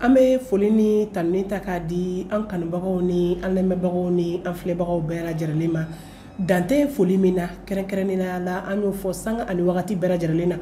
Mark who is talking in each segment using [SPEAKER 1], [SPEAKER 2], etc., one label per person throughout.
[SPEAKER 1] an bɛ foli ni tanuni ta k'a di an kanubagaw ni an lamɛnbagaw ni an filɛbagaw bɛɛ lajɛlen ma dantɛ foli min na kɛrɛnkɛrɛnnenya la an y'o fɔ sanga ani wagati bɛɛ lajɛlen na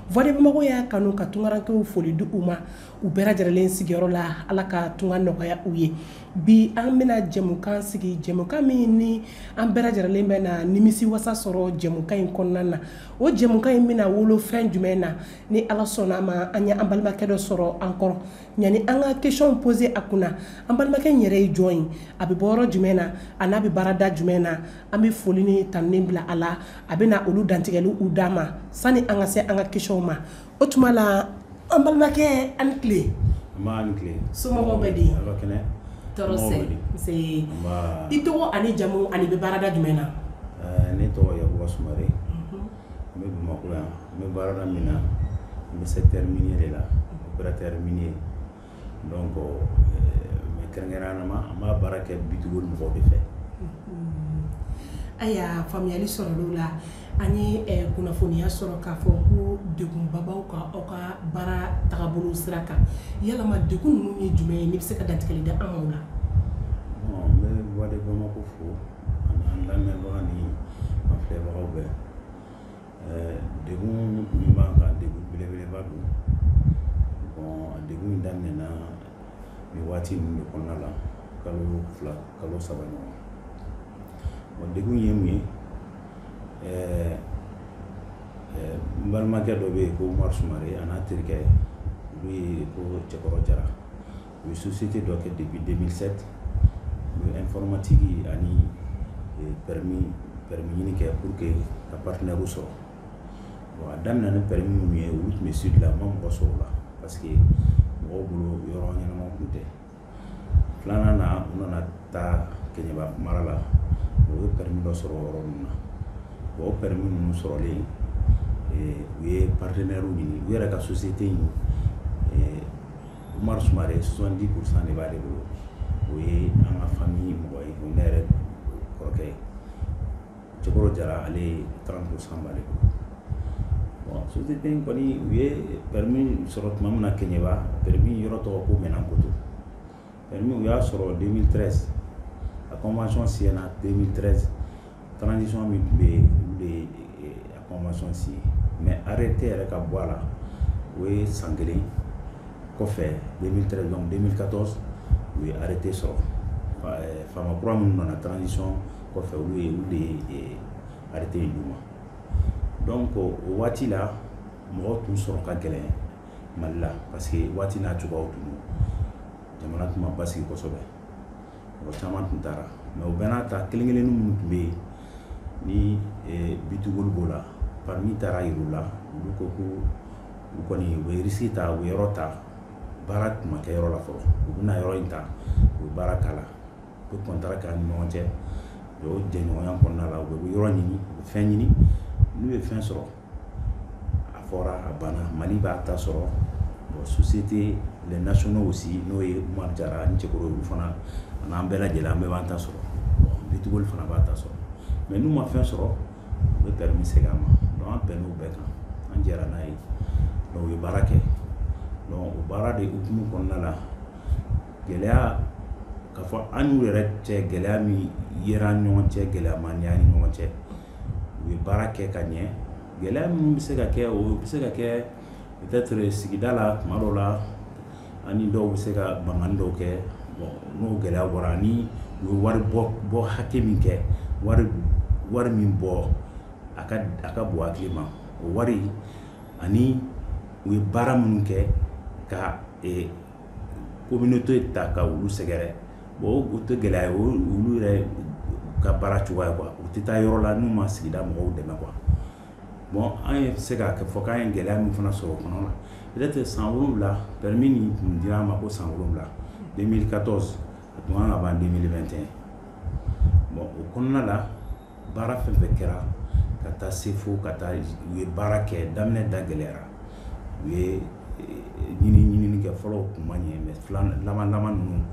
[SPEAKER 1] voix de bamako y'a kanu ka tungarankew foli di u ma u bɛɛ lajɛlen sigiyɔrɔ la ala ka tunga nɔgɔya u ye bi an bɛna jɛmukan sigi jɛmukan min ni an bɛɛ lajɛlen bɛ na nimisi wasa sɔrɔ jɛmukan in kɔnɔna na o jɛmukan in bɛna wolo fɛn jumɛn na ni ala sɔnna a ma an ye an balimakɛ dɔ sɔrɔ an kɔrɔ yani an ka question poser a kunna an balimakɛ in yɛrɛ ye jɔn ye a bɛ bɔ yɔrɔ jumɛn na a n'a bɛ baarada jumɛn na an bɛ foli ni tanuni bila a la a bɛ na olu dantigɛli u d'a ma sani an ka se an ka question ma o tuma na an balimakɛ an ni tile somɔgɔw bɛ di tɔɔrɔ i tɔgɔ ani jamu an'i bɛ baarada jumɛn na ne
[SPEAKER 2] tɔgɔ yakuba sumare n bɛ bamakɔ yan n bɛ baarada min na n bɛ secteur minier de la opérateur minier Donc mais kɛrɛnkɛrɛnnenya la an b'a baara kɛ B2Gold mɔgɔw de
[SPEAKER 1] fɛ ayiwa faamuyali sɔrɔla o la an ye kunnafoniya sɔrɔ k'a fɔ ko degunba b'aw kan aw ka baara taabolo sira kan yalama degun ninnu ye jumɛn ye n'i bɛ se ka dantigɛli da an ma o
[SPEAKER 2] la n bɛ voix de bamako fo ani an lamɛnbagaw ni an filɛbagaw bɛɛ degun min b'an kan degun belebeleba don bon degun in daminɛna nin waati ninnu de kɔnɔna la kalo fila kalo saba ɲɔgɔn bon degun ye mun ye ɛɛ n balimakɛ dɔ bɛ yen ko umaru sumare a n'a terikɛ olu ye ko cɛkɔrɔ jara u ye société dɔ kɛ depuis 2007 informatique ani permis ɲini kɛ pour que ka partenaire sɔrɔ bon a daminɛ ni permis minnu ye olu tun bɛ sud la ma mɔgɔ sɔrɔ o la parce que mɔgɔw bolo yɔrɔ ɲɛnama tun tɛ filanan na u nana taa kɛɲɛba mara la u ye permis dɔ sɔrɔ yɔrɔ min na o permis ninnu sɔrɔlen u ye partenaire ɲini u yɛrɛ ka société in Umaru Sumare 70 pour 100 de b'ale bolo, o ye an ka famille mɔgɔ ye, o ye ne yɛrɛ kɔrɔkɛ ye, Cɛkɔrɔ Jara ale ye 30 pour 100 b'ale bolo, bon société in kɔni u ye permis sɔrɔ tuma min na Kɛɲɛba, permis yɔrɔ tɔgɔ ko Mɛnankoto, permis u y'a sɔrɔ 2013 a convention signé na 2013 Transition min tun bɛ yen, olu de ye a convention signer mais arrêté yɛrɛ ka bɔ a la, o ye san kelen kɔfɛ 2013 donc 2014 u ye arrêté sɔrɔ ɛɛ faama kura minnu nana transition kɔfɛ olu ye olu de ye arrêté in d'u ma donc o waati la mɔgɔ tun sɔrɔ ka gɛlɛn Mali la parce que waati n'a cogoyaw tun don, jamana tun ma basigi kosɛbɛ mɔgɔ caman tun taara mais o bɛɛ n'a ta kelen kelen minnu tun bɛ yen ni eh, B2Gold b'o la permis taara yir'u la olu ko ko u kɔni u bɛ risque ta u bɛ yɔrɔ ta baara tun ma kɛ yɔrɔ la fɔlɔ u bɛna yɔrɔ in ta u bɛ baara k'a la u bɛ kɔntara k'an ni ɲɔgɔn cɛ o jɛɲɔgɔnya kɔnɔna la u bɛ yɔrɔ ɲini u bɛ fɛn ɲini n'u ye fɛn sɔrɔ a fɔra a banna Mali b'a ta sɔrɔ bon société les nationaux aussi n'o ye Umaru Jara ni cɛkɔrɔba olu fana an'an bɛɛ lajɛlen an bɛɛ b'an ta sɔrɔ bon B2Gold fana b'a ta sɔrɔ mais n'u ma fɛn sɔrɔ u bɛ permis segin an ma an bɛnn'o bɛɛ kan an jɛra n'a ye u ye baara kɛ o baara de hukumu kɔnɔna la gɛlɛya k'a fɔ an n'u yɛrɛ cɛ gɛlɛya min yera an ni ɲɔgɔn cɛ gɛlɛya ma ye an ni ɲɔgɔn cɛ u ye baara kɛ ka ɲɛ gɛlɛya minnu bɛ se ka kɛ o bɛ se ka kɛ peut-être sigida la tuma dɔw la an ni dɔw bɛ se ka mankanni dɔw kɛ bon n'o gɛlɛya bɔra ani u ye wari bɔ bɔ hakɛ min kɛ wari wari min bɔ a ka a ka bon hakili ma o wari ani u ye baara minnu kɛ ka ee communauté ta ka olu sɛgɛrɛ o tɛ gɛlɛya ye olu yɛrɛ ka baara cogoya quoi u tɛ taa yɔrɔ la n'u ma sigida mɔgɔw dɛmɛ quoi bon an ye se k'a fɔ k'an ye gɛlɛya min fana sɔrɔ o kɔnɔ na peut-être san wolonwula permis nin tun dira an ma ko san wolonwula 2014 a tun kan ka ban 2021 bon o kɔnɔna la baara fɛn fɛn kɛra ka taa se fo ka taa u ye baara kɛ daminɛ da gɛlɛyara u ye eh, ɲini ɲinini kɛ fɔlɔw tun ma ɲɛ mais laban laban ninnu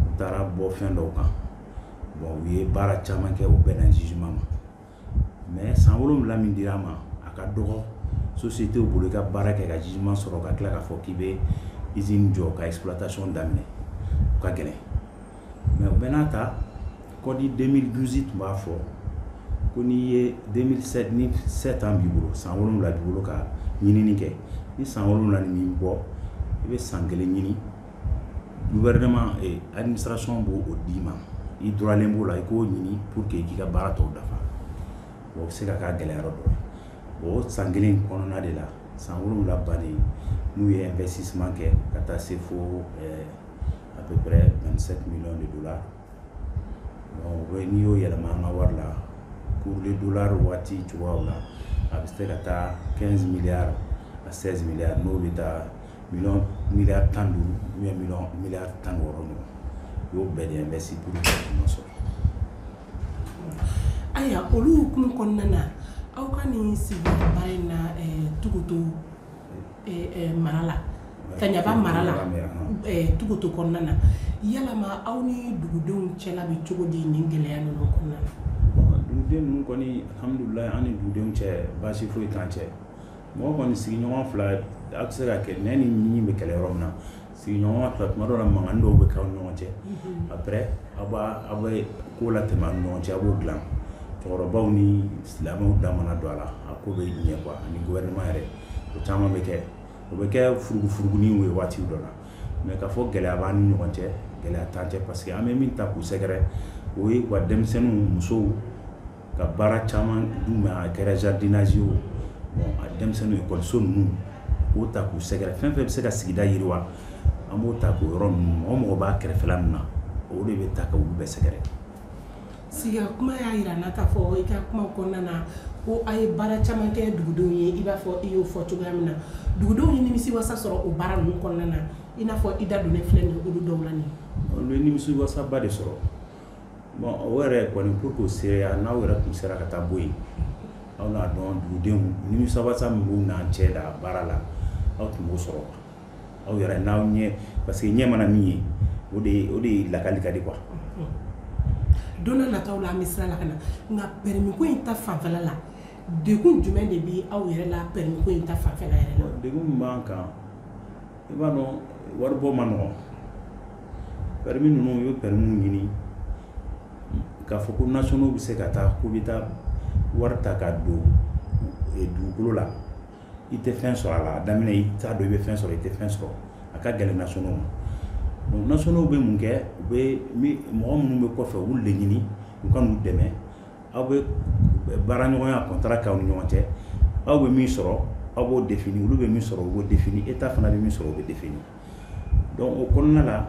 [SPEAKER 2] u taara bɔ fɛn dɔw kan bon u ye baara caman kɛ u bɛnna gisement ma mais san wolonwula min dira an ma a ka dɔgɔ sociétéw bolo i ka baara kɛ ka gisement sɔrɔ ka tila k'a fɔ k'i bɛ usine jɔ ka exploitation daminɛ o ka gɛlɛn mais o bɛɛ n'a ta code 2012 tun b'a fɔ ko n'i ye 2007 ni 7 ans b'i bolo san wolonwula b'i bolo ka ɲinini kɛ ni san wolonwula nin m'i bɔ i bɛ san kelen ɲini gouvernement eh, administration b'o d'i ma i droit le b'o la i k'o ɲini pour que k'i ka baara tɔw dafa bon o bɛ se ka k'a gɛlɛya yɔrɔ dɔ ye o san kelen kɔnɔna de la san wolonwula bannen n'u ye investissement kɛ ka taa se fo eh, a bɛ bɛ se de don la n'i y'o yɛlɛma an ka wari la kulu donla waati cogoya la a bɛ se ka taa kɛ miya a sɛs miya n'o bɛ taa mi mi tan duuru mi mi tan wɔɔrɔ ma o y'o bɛn an bɛ se ma sɔrɔ
[SPEAKER 1] ayiwa olu kulu kɔnɔna na aw ka nin sigi ba in na dugudenw mara la kaɲaba mara la tugoto kɔnɔna na yalama aw ni dugudenw cɛla bɛ cogo di nin gɛlɛya ninnu kɔnɔna na duguden
[SPEAKER 2] ninnu kɔni alhamdulilayi an ni dugudenw cɛ baasi foyi t'an cɛ mɔgɔ kɔni sigiɲɔgɔn fila a bɛ se ka kɛ nɛn ni ɲin bɛ kɛlɛ yɔrɔ min na sigiɲɔgɔn fila tuma dɔ la mankan dɔw bɛ kɛ aw ni ɲɔgɔn cɛ mhm. après aw b'a aw bɛ ko latɛmɛ aw ni ɲɔgɔn cɛ aw b'o dilan cɛkɔrɔbaw ni silamɛw da mana don a la a ko bɛ ɲɛ quoi ani gouvernement yɛrɛ o caman bɛ kɛ o bɛ kɛ furugufuruguniw ye waati dɔ la mais k'a fɔ gɛlɛya b'an ni ɲɔgɔn cɛ gɛlɛya t'an cɛ parce que an bɛ min ta k'u sɛgɛrɛ o ye u ka denmisɛnninw musow ka baara caman d'u ma a kɛra jardinage ye o bon a denmisɛnninw ekɔliso ninnu u k'o ta k'u sɛgɛrɛ fɛn fɛn bɛ se ka sigida yiriwa an b'o ta k'o yɔrɔ ninnu mɔgɔ mɔgɔ b'a kɛrɛfɛla ninnu na o de bɛ ta ka olu bɛɛ sɛgɛrɛ
[SPEAKER 1] siga kuma y'a jira n na k'a fɔ i ka kuma kɔnɔna na ko a ye baara caman kɛ dugudenw ye i b'a fɔ i y'o fɔ cogoya min na dugudenw ye nimisiwasa sɔrɔ o baara ninnu kɔnɔna na i n'a fɔ i da donnen filɛ nin ye olu dɔw la nin ye olu ye
[SPEAKER 2] nimisiwasaba de sɔrɔ bon o yɛrɛ kɔni pour que o seereya n'aw yɛrɛ tun sera ka taa bɔ yen aw n'a dɔn dugudenw nimisiwasa min b'u n'an cɛ la baara la aw tun b'o sɔrɔ aw yɛrɛ n'aw ɲɛ parce que ɲɛ mana min ye o de o de lakali ka di
[SPEAKER 1] quoi don nata la an bɛ sira la ka na nka pɛrimi ko in ta fanfɛla la degun jumɛn de bɛ aw yɛrɛ la pɛrimi ko in ta fanfɛ yɛrɛ la degun min b'an kan
[SPEAKER 2] i b'a dɔn waribɔ ma nɔgɔn pɛrimi ninnu u ye pɛrimiw ɲini k'a fɔ ko nationaux bɛ se ka taa k'u bɛ taa wari ta ka don eh, dugukolo la i tɛ fɛn sɔrɔ a la a daminɛ i t'a dɔn i bɛ fɛn sɔrɔ i tɛ fɛn sɔrɔ a ka gɛlɛn nationaux ma donc nationaux bɛ mun kɛ u bɛ mɔgɔ minnu bɛ kɔfɛ u b'u de ɲini u ka n'u dɛmɛ aw bɛ baaraɲɔgɔnya contrat kɛ aw ni ɲɔgɔn cɛ aw bɛ min sɔrɔ aw b'o définir olu bɛ min sɔrɔ o bɛ définir état fana bɛ min sɔrɔ o bɛ définir donc o kɔnɔna la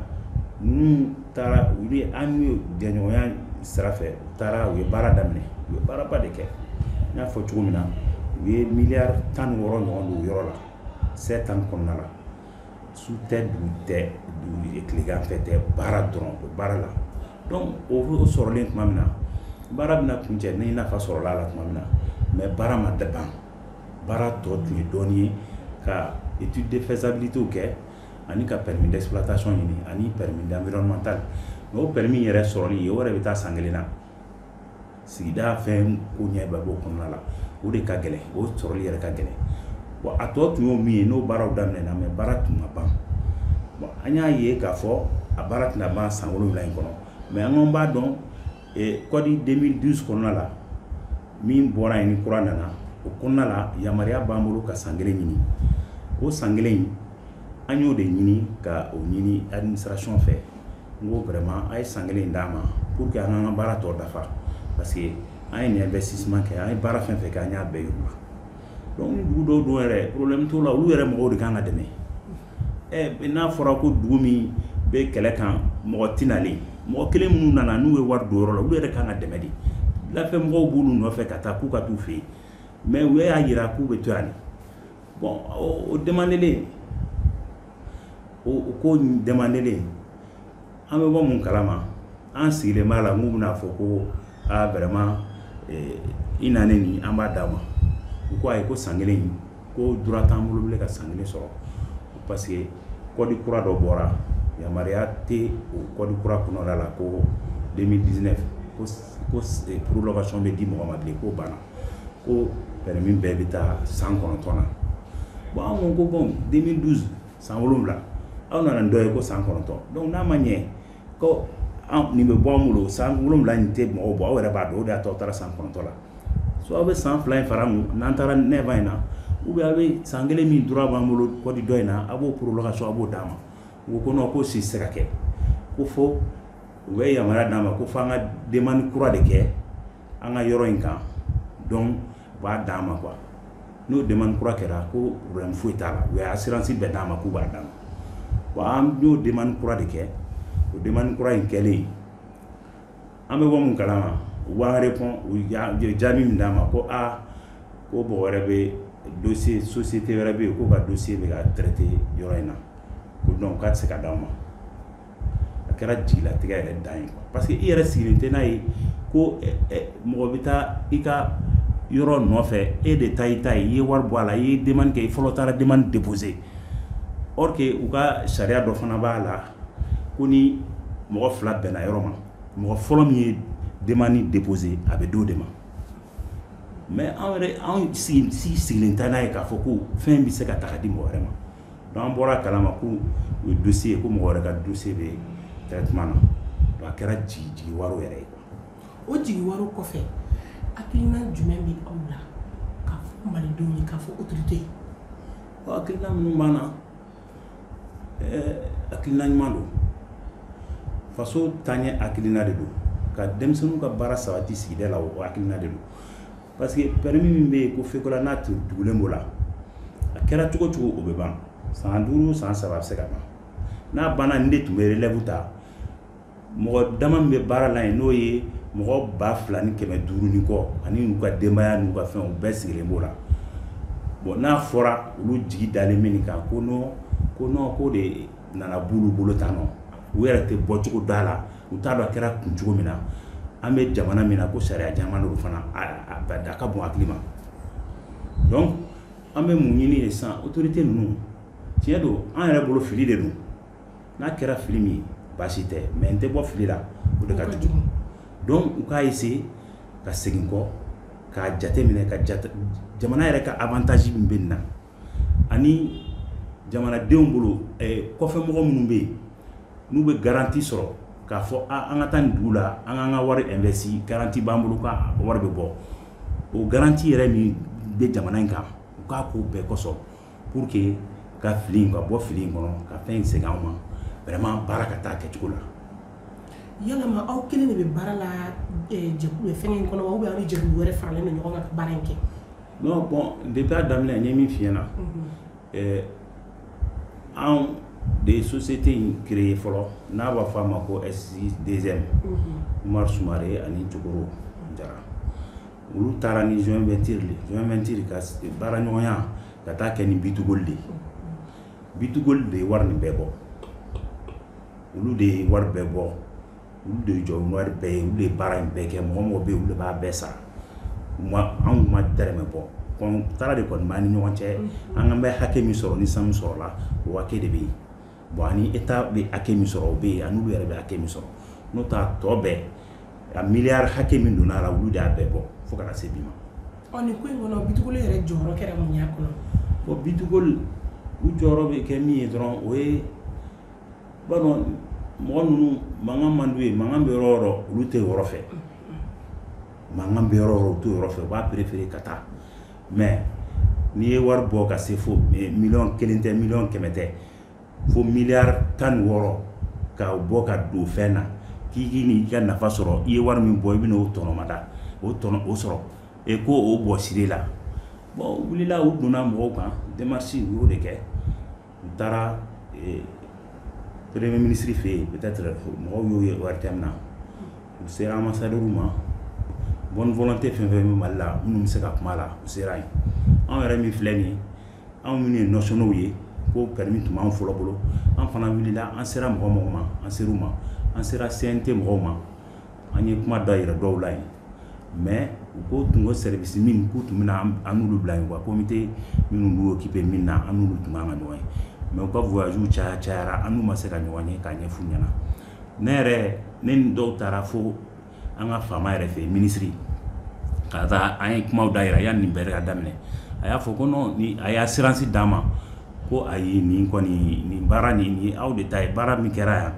[SPEAKER 2] ninnu taara u ye an n'u jɛɲɔgɔnya sira fɛ u taara u ye baara daminɛ u ye baaraba de kɛ n y'a fɔ cogo min na u ye miliyari tan wɔɔrɔ ɲɔgɔn don yɔrɔ la sept ans kɔnɔna la su tɛ dugu tɛ tilegan fɛ tɛ baara dɔrɔn o baara la donc o sɔrɔlen tuma min na baara bɛna kuncɛ ni nafa sɔrɔla a la tuma min na mais baara ma laban baara tɔ tun ye dɔɔnin ye ka étude de faisabilité kɛ ani ka permis d'exploitation ɲini ani permis d'environnemental mais o permis yɛrɛ sɔrɔli ye o yɛrɛ bɛ taa san kelen na sigida fɛn koɲɛ bɛɛ b'o kɔnɔna la o de ka gɛlɛn o sɔrɔli yɛrɛ ka gɛlɛn bon a tɔ tun y'o min ye n'o baaraw daminɛna mais baara tun ma ban an y'a ye k'a fɔ a baara tɛna ban san wolonwula in kɔnɔ mais an kɔni b'a dɔn kɔdi 2012 kɔnɔna la min bɔra yen ni kura nana o kɔnɔna la yamaruya b'an bolo ka san kelen ɲini o san kelen in an y'o de ɲini ka o ɲini administration fɛ n ko vraiment a ye san kelen d'an ma pour que an k'an ka baara tɔ dafa parce que an ye nin investissement kɛ an ye baara fɛn fɛn kɛ an y'a bɛɛ yir'u la donc ni dugu dɔw don yɛrɛ problème t'o la olu yɛrɛ mɔgɔw de kan ka dɛmɛ ɛ n'a fɔra ko dugu min bɛ kɛlɛ kan mɔgɔ tɛ nalen mɔgɔ kelen minnu nana n'u ye wari don yɔrɔ la olu yɛrɛ kan ka dɛmɛ de lafɛ mɔgɔw b'olu nɔfɛ ka taa k'u ka t'u fɛ yen mais u y'a jira k'u bɛ to yan de bon o demandelen o ko demandelen an bɛ bɔ mun kalama an sigilen b'a la k'u bɛna a fɔ ko aa vraiment i na nin an b'a d'a ma u ko ayi ko san kelen in ko droit t'an bolo bilen ka san kelen sɔrɔ parce que kɔdi kura dɔ bɔra yamaruya tɛ o kɔdi kura kɔnɔna la ko 2019 ko prolongation bɛ di mɔgɔ ma bilen k'o banna ko permis bɛɛ bɛ taa san kɔnɔntɔn na bon an ko ko bon 2012 san wolonwula aw nana ni dɔ ye ko san kɔnɔntɔn donc n'a ma ɲɛ ko an nin bɛ bɔ an bolo san wolonwula nin tɛ mɔgɔw bɔ aw yɛrɛ b'a dɔn o de y'a to aw taara san kɔnɔntɔn la soit aw bɛ san fila in fara n'an taara neuf in na ou bien aw bɛ san kelen min droit b'an bolo kɔdi dɔ in na aw b'o prolongation aw b'o d'an ma u ko non ko si tɛ se ka kɛ ko fo u bɛ yamaruya d'an ma ko f'an ka demande kura de kɛ an ka yɔrɔ in kan donc u b'a d'an ma quoi n'o demande kura kɛra ko problème foyi t'a la u ye assurance bɛɛ d'an ma k'u b'a d'an ma bon an y'o demande kura de kɛ o demande kura in kɛlen an bɛ bɔ mun kalama u b'an répond u ye jaabi min d'an ma ko aa ko mɔgɔ wɛrɛ bɛ dossier société wɛrɛ bɛ yen k'o ka dossier bɛ ka traiter yɔrɔ in na ko donc k'a tɛ se ka di aw ma a kɛra jigilatigɛ yɛrɛ dan ye parce que i yɛrɛ sigilen tɛ n'a ye ko mɔgɔ bɛ taa i ka yɔrɔ nɔfɛ e de ta i ta ye i ye wari bɔ a la i ye demande kɛ i fɔlɔ taara demande déposer or que u ka sariya dɔ fana b'a la ko ni mɔgɔ fila bɛnna yɔrɔ ma mɔgɔ fɔlɔ min ye demande déposer a bɛ d'o de ma mais anw yɛrɛ anw sigilen tɛ n'a ye k'a fɔ ko fɛn bɛ se ka taa di mɔgɔ wɛrɛ ma an bɔra a kala ma ko o ye dossier ye ko mɔgɔ wɛrɛ ka dossier bɛ traitement na donc a kɛra jigiwaro yɛrɛ ye o jigiwaro
[SPEAKER 1] kɔfɛ hakilina jumɛn bɛ aw la k'a fɔ malidenw ye k'a fɔ autorité ye
[SPEAKER 2] hakilina minnu b'an na hakilina ɲuman don faso taaɲɛ hakilina de don ka denmisɛnninw ka baara sabati sigida la o hakilina de don parce que permis min bɛ yen ko fekola n'a tun tugulen b'o la a kɛra cogo cogo o bɛ ban san duuru san saba a bɛ se ka ban n'a banna nin de tun bɛ relève ta mɔgɔ dama min bɛ baara la yen n'o ye mɔgɔ ba fila ni kɛmɛ duuru ni kɔ ani n'u ka denbaya n'u ka fɛnw bɛɛ sigilen b'o la bon n'a fɔra olu jigi dalen bɛ nin kan ko non ko non ko de u nana b'olu bolo tan nɔ u yɛrɛ tɛ bɔcogo dɔn a la u t'a dɔn a kɛra kun cogo min na an bɛ jamana min na ko sariya jamana don fana a ba da a ka bon hakili ma donc an bɛ mun ɲini de sisan autorité ninnu tiɲɛ don an yɛrɛ bolo fili de don n'a kɛra fili min ye baasi tɛ mais n tɛ bɔ fili la o de ka jugu donc u k'a essayer ka segin kɔ k'a jateminɛ ka jate jamana yɛrɛ ka avantage min bɛ nin na ani jamanadenw bolo kɔfɛmɔgɔ minnu bɛ yen n'u bɛ garanti sɔrɔ k'a fɔ an ka taa nin dugu la an k'an ka wari investi garanti b'an bolo ka wari bɛ bɔ o garanti yɛrɛ min bɛ jamana in kan u k'a ko bɛɛ kɔsɔn pour que ka fili ka bɔ fili in kɔnɔ ka fɛn in segin an ma vraiment baara ka taa kɛcogo la yalama
[SPEAKER 1] aw kelen de bɛ baara la fɛn in kɔnɔ wa ou bien aw ni jɛkulu wɛrɛ faralen don ɲɔgɔn kan ka baara in kɛ Non
[SPEAKER 2] bon depuis a daminɛ n ye min f'i ɲɛna anw de ye société in créer fɔlɔ n'a b'a fɔ a ma ko S2IEM umar sumare ani cɛkɔrɔ jara olu taara ni joint venture joint venture ka baara ɲɔgɔnya ka taa kɛ ni bitugoli de bitugoli de ye wari nin bɛɛ bɔ olu de ye wari bɛɛ bɔ olu de ye jɔ wari bɛɛ ye olu de ye baara in bɛɛ kɛ mɔgɔ mɔgɔ bɛ yen olu de b'a bɛɛ sara anw ma dɛrɛmɛ bɔ contrat de kɔni b'an ni ɲɔgɔn cɛ an ka bɛ hakɛ min sɔrɔ ni sanu sɔrɔla o hakɛ de bɛ yen bon ani état bɛ hakɛ min sɔrɔ o bɛ yen ani olu yɛrɛ bɛ hakɛ min sɔrɔ n'o t'a tɔ bɛɛ a miliyari hakɛ min donna a la olu de y'a bɛɛ bɔ fo ka na se bi ma
[SPEAKER 1] bitugoli yɛrɛ jɔyɔrɔ kɛra mun y'a kɔnɔ bon bitugoli
[SPEAKER 2] u jɔyɔrɔ bɛ kɛ min ye dɔrɔn o ye Ba mɔgɔ ninnu mankan man d'u ye mankan bɛ yɔrɔ o yɔrɔ olu tɛ yɔrɔ fɛ mankan bɛ yɔrɔ o yɔrɔ u t'o yɔrɔ fɛ u b'a préférer ka taa mais n'i ye wari bɔ ka se fo miliyɔn kelen tɛ miliyɔn kɛmɛ tɛ fo miliyari tan ni wɔɔrɔ ka bɔ ka don fɛn na k'i k'i nin ka nafa sɔrɔ i ye wari min bɔ i bɛna o tɔnɔmada o tɔnɔ o sɔrɔ e ko o bɔ siri la u wulila u donna mɔgɔw kan démarche u y'o de kɛ u taara eh, premier ministre fɛ yen peut-être mɔgɔw y'o ye ORTM na u sera ambassadeur ma bonne volonté fɛn fɛn bɛ mali la minnu bɛ se ka kuma a la u sera yen anw yɛrɛ min filɛ nin ye anw minnu ye nationaux ye ko permis tun b'an fɔlɔ bolo an fana wulila an sera mɔgɔ mɔgɔ ma an ser'u ma an sera CNT mɔgɔw ma An ye kuma da yira dɔw la yen mais u ko u tun ko service min k'u tun bɛna an n'olu bila yen quoi comité minnu b'u occuper min na an n'olu tun ka kan ka ɲɔgɔn ye mais u ka voyages caya cayara an n'u ma se ka ɲɔgɔn ye k'a ɲɛf'u ɲɛna ne yɛrɛ ne ni dɔw taara fo an ka faama yɛrɛ fɛ yen minisiri ka taa an ye kumaw da yira yanni nin bɛɛ ka daminɛ a y'a fɔ ko non ni a ye assurance d'an ma ko ayi nin kɔni nin baara nin nin ye aw de ta ye baara min kɛra yan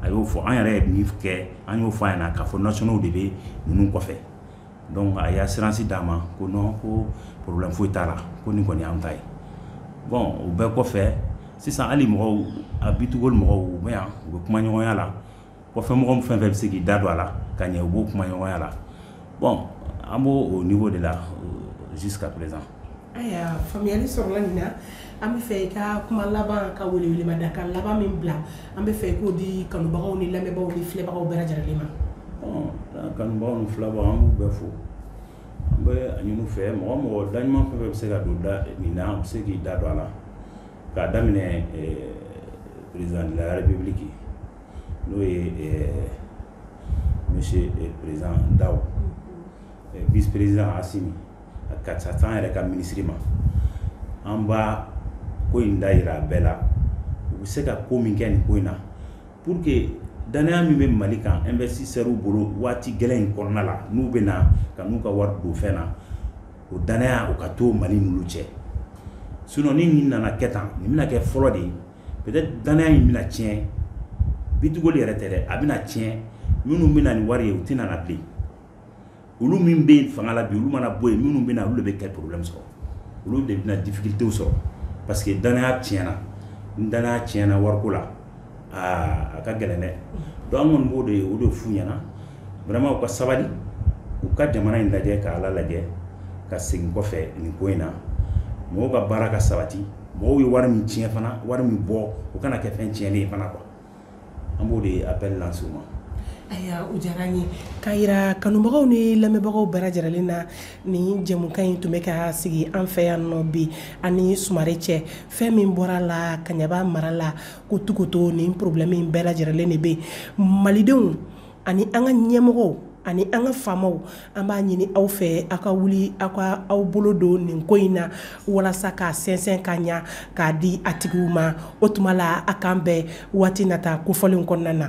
[SPEAKER 2] a y'o fɔ an yɛrɛ ye min kɛ an y'o fɔ a ɲɛna k'a fɔ nationaux de bɛ ninnu kɔfɛ donc a ye assurance d'an ma ko non ko problème foyi t'a la ko nin kɔni y'an ta ye bon o bɛɛ kɔfɛ sisan hali mɔgɔw a B2Gold mɔgɔw u bɛ yan u bɛ kumaɲɔgɔnya la kɔfɛ mɔgɔ fɛn fɛn bɛ se k'i da don a la ka ɲɛ u b'o kumaɲɔgɔnya la bon an b'o niveau de la euh, jusqu'à présent
[SPEAKER 1] Ayiwa faamuyali sɔrɔla nin na an b'a fɛ i ka kuma laban ka welewelemada ka laban min bila an b'a fɛ i k'o di kanubagaw ni lamɛnbagaw ni filɛbagaw bɛɛ lajɛlen ma
[SPEAKER 2] kanubagaw ni filɛbagaw an b'u bɛɛ fo an b'a ɲini u fɛ mɔgɔ o mɔgɔ da ɲuman fɛn fɛn bɛ se ka don nin na u bɛ se k'i da don a la k'a daminɛ président de la république n'o ye monsieur président Daw vice-président Assi ka taa se an yɛrɛ ka minisiri ma an bɛ ko in da yira a bɛɛ la u bɛ se ka ko min kɛ nin ko in na pour que danaya min bɛ mali kan investisseurs bolo waati gɛlɛn in kɔnɔna la n'u bɛ na ka n'u ka wari don fɛn na o danaya o ka to mali n'olu cɛ sinon ni nin nana kɛ tan nin bɛna kɛ fɔlɔ de ye peut-être danaya in bɛna tiɲɛ B2Gold yɛrɛ tɛ dɛ a bɛna tiɲɛ minnu bɛ na ni wari ye u tɛna na bilen olu min bɛ fanga la bi olu mana bɔ yen minnu bɛ na olu de bɛ kɛ problème sɔrɔ olu de bɛna difficulté sɔrɔ parce que danaya tiɲɛna ni danaya tiɲɛna wariko la aa a ka gɛlɛn dɛ donc an kɔni b'o de o de f'u ɲɛna vraiment u ka sabali u ka jamana in lajɛ ka ala lajɛ ka segin kɔfɛ nin ko in na mɔgɔw ka baara ka sabati mɔgɔw ye wari min tiɲɛ fana wari min bɔ o kana kɛ fɛn tiɲɛlen ye fana quoi an b'o de appel lancer u ma ayiwa
[SPEAKER 1] o diyara n ye k'a jira kanubagaw ni lamɛnbagaw bɛɛ lajɛrɛlen na nin jɛmukan in tun bɛ ka sigi an fɛ yan nɔ bi ani sumare cɛ fɛn min bɔra la kaɲaba mara la ko tuguto nin problème in bɛɛ lajɛrɛlen de bɛ malidenw ani an ka ɲɛmɔgɔw ani an ka faamaw an b'a ɲini aw fɛ aw ka wuli aw ka aw bolo don nin ko in na walasa k'a sɛnsɛn ka ɲa k'a di a tigiw ma o tuma la a k'an bɛn waati nata kofɔlen kɔnɔna na